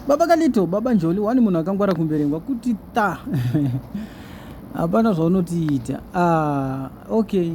baba kalito baba njoli wani munhu akangwara kumberengwa kuti ta hapana zvaunotiita ah, okay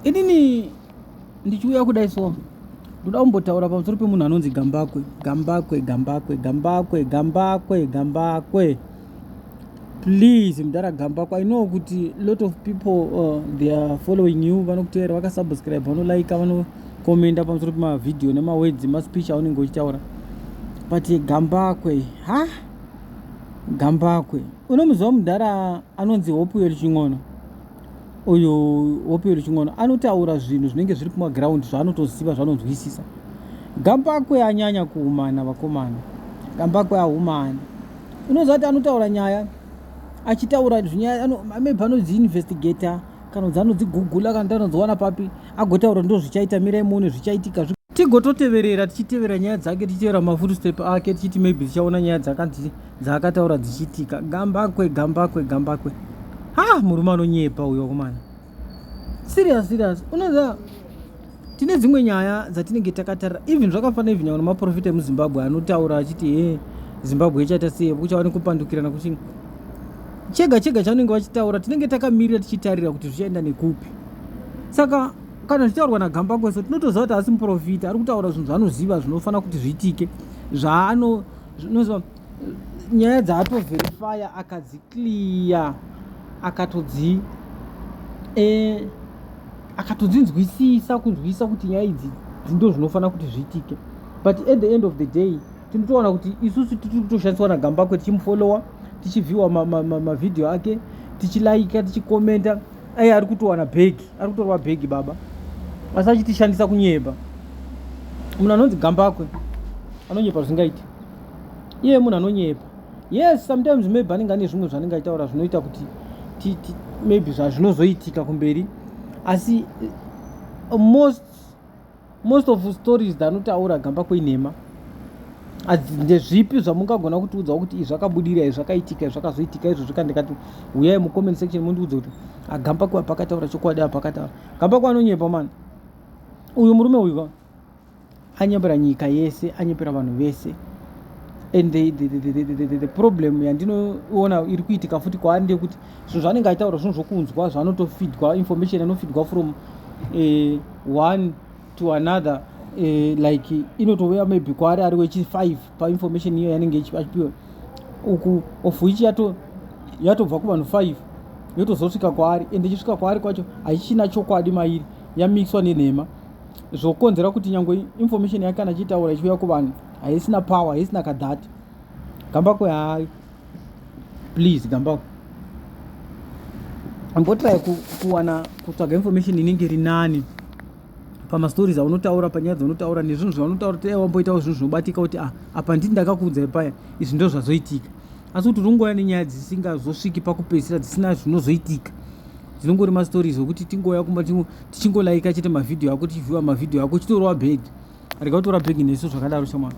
inini ndichiuya kudai so ndoda kumbotaura pamusoro pemunhu anonzi gambakwe gambakwe gambakwe gambakwe gambakwe gambakwe, gambakwe. please mdara gambakwa i know kuti lot of people uh, they are following you vanokuteera vakasubscribe vanolaika vanokomenda pamusoro pemavhidhiyo nemawedzi maspeech aunenge uchitaura but gambakwe ha gambakwe unomuziva mudhara anonzi hope yelchin'ono uyu wopero chingono anotaura zvinhu zvinenge zviri kumaground zvaanotoziva zvanonzwisisa gambakwe anyanya kuumana vakomana gambakwe aumani unoziva kuti anotaura nyaya achitaura zvinyaya maybe anodziinvestigator kana kuti anodzigugula kana kuti anodziwana papi agotaura ndo zvichaita mirai muone zvichaitika tigototeverera tichitevera nyaya dzake tichitevera mafutstep ake tichiti maybe tichaona nyaya dzakanzi dzaakataura dzichiitika gambakwe gambakwe gambakwe ha murume anonyepa uyo kumana serious serious unoziva tine dzimwe nyaya dzatinenge takatarira even zvakafanira even nyangwe maprofita emuzimbabwe anotaura achiti he zimbabwe ichaita sei kuchava nekupandukirana kuchi chega chega chaunenge vachitaura tinenge takamirira tichitarira kuti zvichaenda nekupi saka kana zvichitaurwa nagambakweso tinotoziva kuti asi muprofita ari kutaura zvinhu zvaanoziva zvinofanira kuti zviitike zvaano zvinozo nyaya dzaatoverifya akadziclear akatodzi eh, akatodzinzwisisa kunzwisisa kuti nyaya idzi dzindo zvinofanira kuti zviitike but at the end of the day tinotoona kuti isusu tiri kutoshandiswa nagambakwe tichimufollowa tichivhiwa mavhidhiyo ake tichilaika tichikomenta Ayi ari kutowana bag, ari kutorwa bag baba. Asi achitishandisa kunyeba. Munhu anonzi gambakwe anonyepa zvingaita. Iye munhu anonyepa. Yes, sometimes maybe anenge ane zvimwe zvanenge aitaura zvinoita kuti maybe zvazvinozoitika kumberi asi eh, most most of stories dzanotaura gambakwe nhema ndezvipi zvamungagona kutiudzawo kuti izvi zvakabudira izvi zvakaitika zvakazoitika izvo zvika ndikati huyai mucomment section mundiudze kuti agambakwe apakataura chokwadi apakataura gambakwe anonyepa mani uyu murume uyu ka anyepera nyika yese anyepera vanhu vese and the, the, the, the, the, the, the problem yandinoona iri kuitika futi kwaari ndeyekuti zvinhu zvaanenge aitaura zvinhu zvokunzwa zvaanotofidwa information anofidwa from uh, one to another uh, like inotouya maybe kwaari ari wechi5 painformation iyo yanenge achipiwa uku of which yato yatobva kuvanhu 5 yotozosvika kwaari and ichisvika kwaari kwacho haichina chokwadi mairi yamixwa nenhema zvokonzera kuti nyange information yake kana achiitaura ichiuya kuvanhu haisina power haisina kadhati gambakwe hayi please gambao ambotrai kuwana kutsvaga information inenge iri nani pamastories aunotaura panyaya dzaunotaura nezvinhu zvaunotaura tee wamboitawo zvinhu zvinobatika kuti ah, apa ndii ndakakuudzai paya izvi ndo zvazoitika asi kuti ungouya nenyaya dzisingazosviki pakupedzisira dzisina zvinozoitika dzinongori mastories okuti tingouya kuma tichingolaika chete mavhidhiyo ako tichivhiwa mavhidhiyo ako chitorova bhedhi rega kutora bhegi nesu zvakadaro shamwari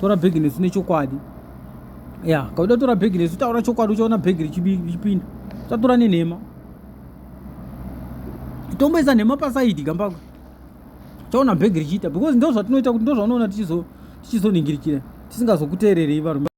tora bhegi nesu nechokwadi ya kauda tora bhegi nesu taura chokwadi uchaona bhegi richipinda usatora nenhema tomboisa nhema pasaidi gambako chaona bhegi richiita because ndo zvatinoita kuti ndo zvaunoona tichizoningirikira tisingazokuteererei varume